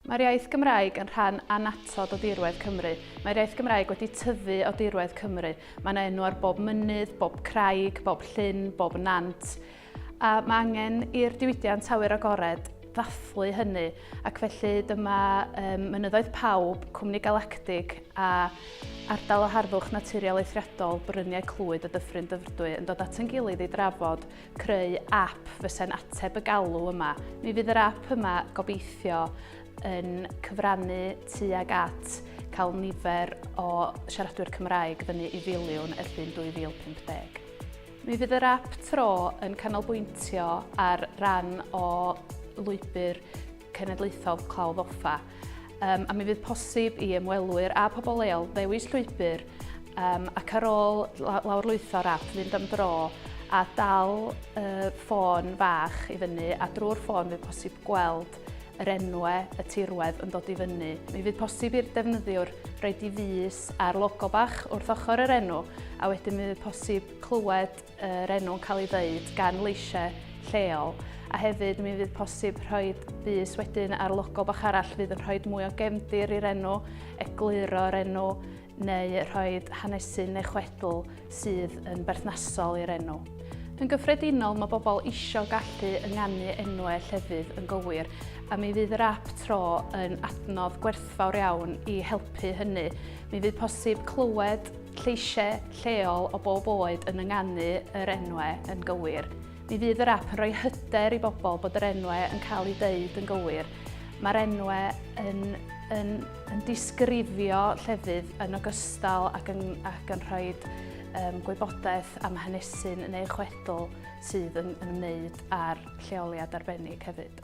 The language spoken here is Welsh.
Mae'r iaith Gymraeg yn rhan annatod o dirwedd Cymru. Mae'r iaith Gymraeg wedi tyfu o dirwedd Cymru. Mae yna enw ar bob mynydd, bob craig, bob llyn, bob nant. A mae angen i'r diwydiant awyr agored ddathlu hynny ac felly dyma um, Mynyddoedd Pawb, Cwmni Galactig a Ardal o Harddwch Naturiol Eithriadol Bryniau Clwyd y Dyffryn Dyfrdwy yn dod at yn gilydd i drafod creu ap fyse'n ateb y galw yma. Mi fydd yr ap yma gobeithio yn cyfrannu tuag at cael nifer o siaradwyr Cymraeg fyny i filiwn y llun 2050. Mi fydd yr ap tro yn canolbwyntio ar ran o lwybr Cenedlaethol Clawdd Offa, um, a mi fydd posib i ymwelwyr a pobl leol ddewis llwybr um, ac ar ôl lawrlwytho'r app fynd am dro a dal uh, ffôn fach i fyny a drwy'r ffôn fydd posib gweld yr enwe y tirwedd yn dod i fyny. Mi fydd posib i'r defnyddiwr roed i fus ar logo bach wrth ochr yr enw a wedyn mi fydd posib clywed yr enw'n cael ei ddeud gan leisiau lleol a hefyd mi fydd posib rhoi bus wedyn ar logo bach arall fydd yn rhoi mwy o gefndir i'r enw, egluro'r enw neu rhoi hanesu neu chwedl sydd yn berthnasol i'r enw. Yn gyffredinol mae bobl eisiau gallu ynganu enwau llefydd yn gywir a mi fydd yr app tro yn adnodd gwerthfawr iawn i helpu hynny. Mi fydd posib clywed lleisiau lleol o bob oed yn ynganu yr enwau yn gywir. Mi fydd yr app yn rhoi hyder i bobl bod yr enwau yn cael eu deud yn gywir. Mae'r enwau yn, yn, yn disgrifio llefydd yn ogystal ac yn, ac yn rhoi um, gwybodaeth am hanesyn neu chwedl sydd yn, yn ymwneud â'r lleoliad arbennig hefyd.